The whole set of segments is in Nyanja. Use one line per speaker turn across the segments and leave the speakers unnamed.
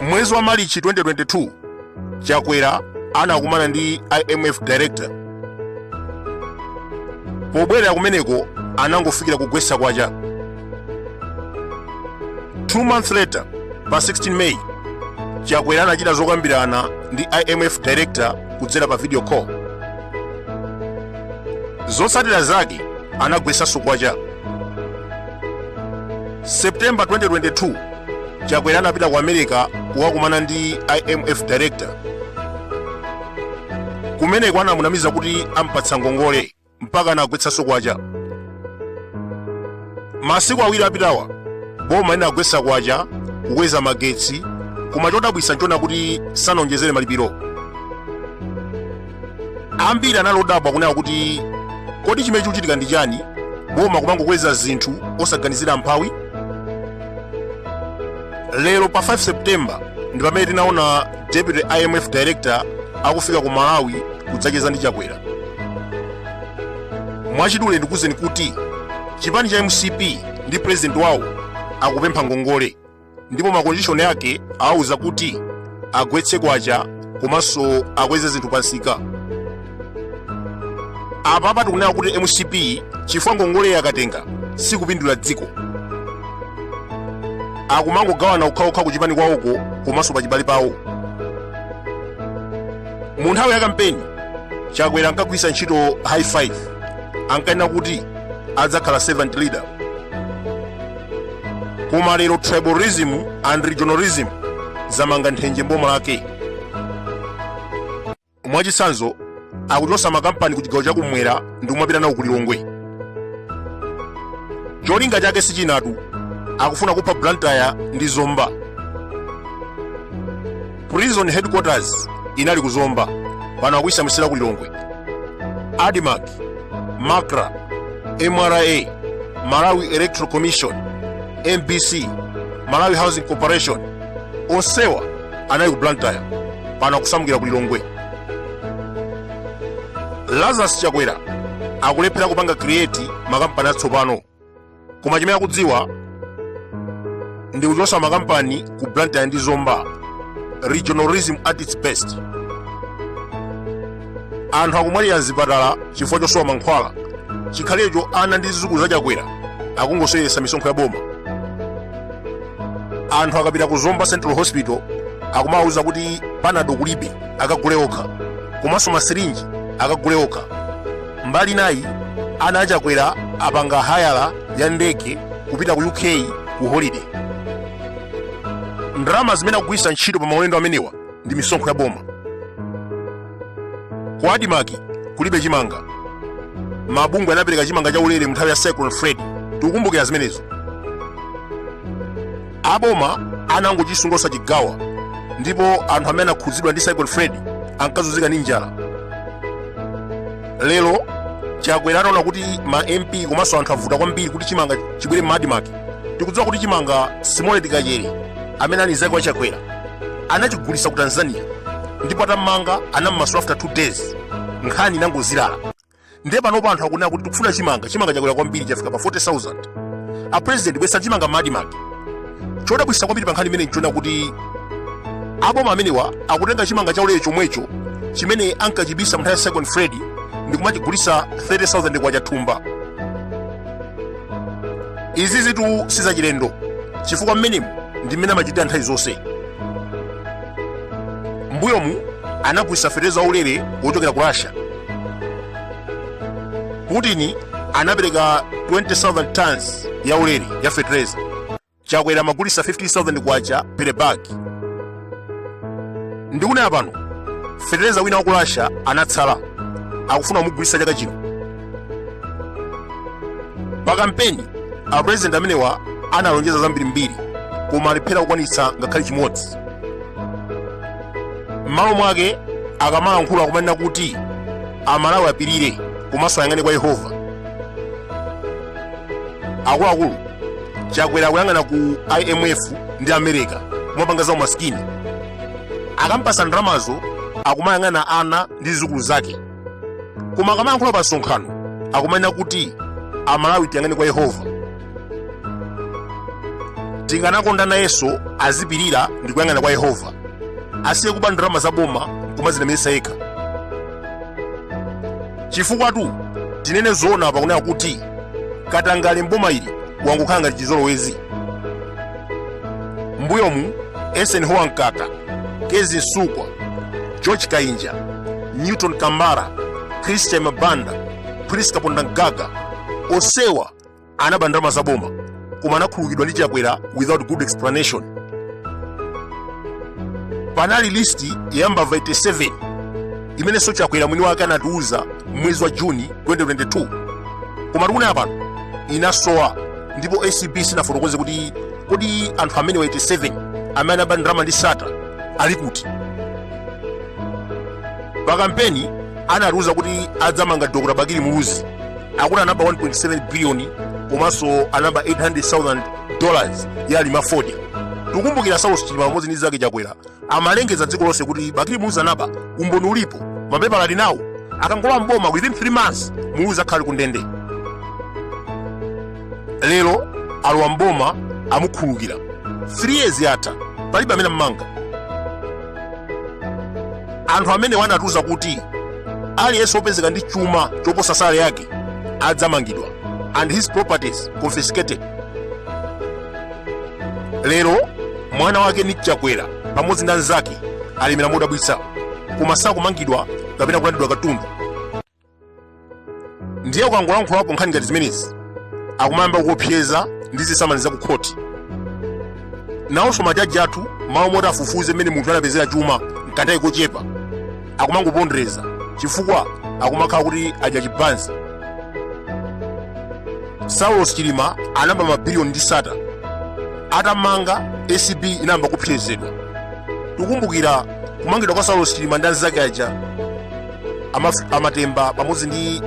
mwezi wa Marichi 2022 chakwera anakumana ndi imf director pobwerera kumeneko anangofikira kugwetsa kwacha Two months later, pa 16 May, Chakwera anachita zokambirana ndi IMF director kudzera pa video call. Zotsatira zake anagwetsanso kwacha. September 2022, Chakwera anapita ku America kukakumana ndi IMF director. Kumeneko anamunamiza kuti ampatsa ngongole. mpaka anagwetsanso kwacha masiku awiri apitawa boma linagwetsa kwacha kukweza magetsi koma chodabwitsa nchona kuti sanawonjezere malipiro ambiri anali odabwa kunena kuti kodi chimene chikuchitika ndi chani boma kumangokweza zinthu osaganizira mphawi lero pa 5 septemba ndi pamene tinaona deputy imf director akufika ku malawi kudzacheza ndi chakwera mwachidule ndikuuzeni kuti chipani cha mcp ndi president wawo akupempha ngongole ndipo makondishoni ake awauza kuti agwetse kwacha komanso akweze zinthu pansika apapa tikunena kuti mcp chifukwa ngongole akatenga sikupindulira dziko akumangogawana okhaokha kuchipani kwawoko komanso pachibale pawo mu nthawi ya kampeni chakwera ankagwiritsa ntchito high five ankanena kuti adzakhala servant leader koma lero tribalism and regionalism zamanga nthenje mboma lake mwachitsanzo akuchotsa makampani ku chigawo chakumwera ndi kumapita nawo ku lilongwe cholinga chake sichinatu akufuna kupha blantyre ndi zomba prison headquarters inali ku zomba pano akuyisamutsira ku lilongwe admarc macra mra malawi electoral commission mbc malawi housing corporation onsewa anali ku blantyre pano akusamukira ku lilongwe lazarus chakwera akulephera kupanga create makampani atsopano koma chimene akudziwa ndi kuchotsa makampani ku blantyre ndi zomba regionalism at its best anthu akumwalira mzipatala chifukwa chosowa mankhwala chikhalirecho ana ndi zizukulu za chakwera akungoseweretsa misonkho ya boma anthu akapita ku zomba central hospital akumawauza kuti panado kulibe akagule okha komanso masirinji akagule okha mbali nayi ana achakwera apanga hayala ya ndege kupita ku uk ku holiday ndalama zimene akugwiritsa ntchito pa maulendo amenewa ndi misonkho ya boma ku adimaki kulibe chimanga mabungwe anapereka chimanga cha ulere munthawi ya cyclone fred tikukumbukira zimenezo aboma anangochisunga osachigawa ndipo anthu amene anakhudzidwa ndi cyclone fred ankazunzika ndi njala lero chakwera ataona kuti ma mp komanso anthu avuta kwambiri kuti chimanga chibwere m'madimaki tikudziwa kuti chimanga simole tikachere amene ali mzake wa chakwera anachigulitsa ku tanzania ndipo atammanga anammasula after 2 days nkhani inangozilala ndiye panopo anthu akunena kuti tikufuna chimanga chimanga chakwera kwambiri chafika pa 40000 a president bweretsani chimanga m'madimaki chodabwitsa kwambiri pa nkhani imeneyi nchonena kuti aboma amenewa akutenga chimanga chaulere chomwecho chimene ankachibisa munthawi ya cyclone fred ndikumachigulitsa 30000 kwacha thumba izizitu si zachilendo chifukwa mmenemu ndi mmene amachitira nthawi zonse mbuyomu anagulitsa fetereza waulere wochokera ku russia putin anapereka 20000 tons ya ulere ya fetereza chakwera amagulitsa 15000 kwacha per bag ndikunena pano fetereza wina wa ku russia anatsala akufuna kumugulitsa chaka chino pa kampeni apurezidenti amenewa analonjeza zambirimbiri koma alephera kukwanitsa ngakhale chimodzi m'malo mwake akamalankhula akumanena kuti amalawi apirire komanso ayang'ane kwa yehova akuluakulu chakwera akuyang'ana ku imf ndi america kumapanga za umasikini akampasa ndalamazo akumayang'ana ana ndi zizukulu zake koma akamalankhula pa msonkhano akumanena kuti amalawi tiyang'ane kwa yehova tikanakonda nayenso azipirira ndi kuyang'ana kwa yehova asiye kuba ndalama za boma kumazilemeretsa yekha chifukwatu tinene zoona pakunena kuti katangale mboma ili wangokhala ngati chizolowezi mbuyomu esen hoa mkaka kezi nsukwa george kainja newton kambara christian mabanda priska pondamgaga osewa anaba ndalama za boma koma anakhululukidwa ndi chakwera without good explanation panali listi ya mbava 87 imenenso chakwera mwini wake anatiuza mwezi wa juni 2022 koma tikunena pano inasowa ndipo acb sinafotokoze kuti kodi anthu amenewa 87 amene anaba ndalama ndi sattar ali kuti pa kampeni anatiuza kuti adzamanga dr bakili muluzi akuti anaba 1.7 biliyoni komanso anaba 800,000 dollars ya alima fodya tikumbukira saulos chilima pamodzi ndi nzake chakwera amalengeza dziko lonse kuti bakili muluzi anaba umboni ulipo mapepala ali nawo akangolowa mboma within 3 months muluzi akhale ku ndende lero alowa mboma amukhululukira 3 years yatha palibe amene wammanga anthu amene anatiuza kuti aliyense opezeka ndi chuma choposa sale yake adzamangidwa and his properties confiscated lero mwana wake nick chakwera pamodzi ndi anzake alemera modabwitsa koma sakumangidwa kapena kulandidwa katundu ndiye ukangolankhulapo nkhani ngati zimenezi akumayamba kuopseza ndi zisamani za kukhoti nawonso majaji athu m'malo moti afufuze mmene munthu anapezera chuma mkanthawi kochepa akumangopondereza chifukwa akumakhala kuti adya chibanzi saulos chilima anaba mabiliyoni ndi sattar atammanga acb inayamba kuopsezedwa tikumbukira kumangidwa kwa saulos chilima ndi anzake aja a matemba pamodzi ndi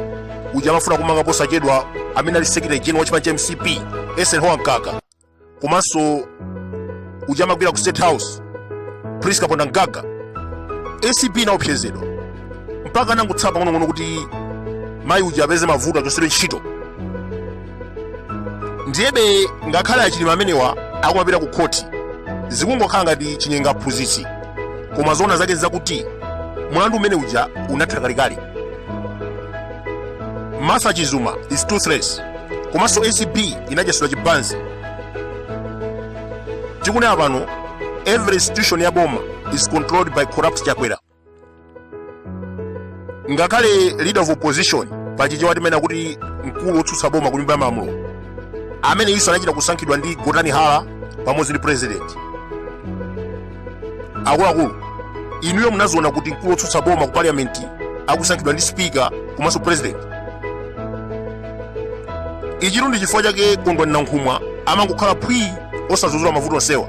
uja amafuna kummanga posachedwa amene ali secretary general wa chipani cha mcp eisenhower mkaka komanso uja amagwira ku state house prince kapondamgaga acb inaopsezedwa mpaka anangotsala pang'onong'ono kuti mayi uja apeze mavuto achotsedwe ntchito ndiyebe ngakhale achilima amenewa akumapita ku khoti zikungokhala ngati chinyenga aphunzitsi koma zoona zake nzakuti mlandu umene uja unatha kalekale martha chizuma is toothless komanso acb inadyetsedwa chibanzi tikunena pano every institution ya boma is controlled by corrupt chakwera ngakhale leader of opposition pachichewa timanena kuti mkulu wotsutsa boma ku nyumba ya malamulo amene nayenso anachita kusankhidwa ndi gotani hara pamodzi ndi president akuluakulu inuyo munaziona kuti mkulu wotsutsa boma ku parliament akusankhidwa ndi speaker komanso president ichitu ndi chifukwa chake kondwani nankhumwa amangokhala phwii osadzudzula mavuto onsewa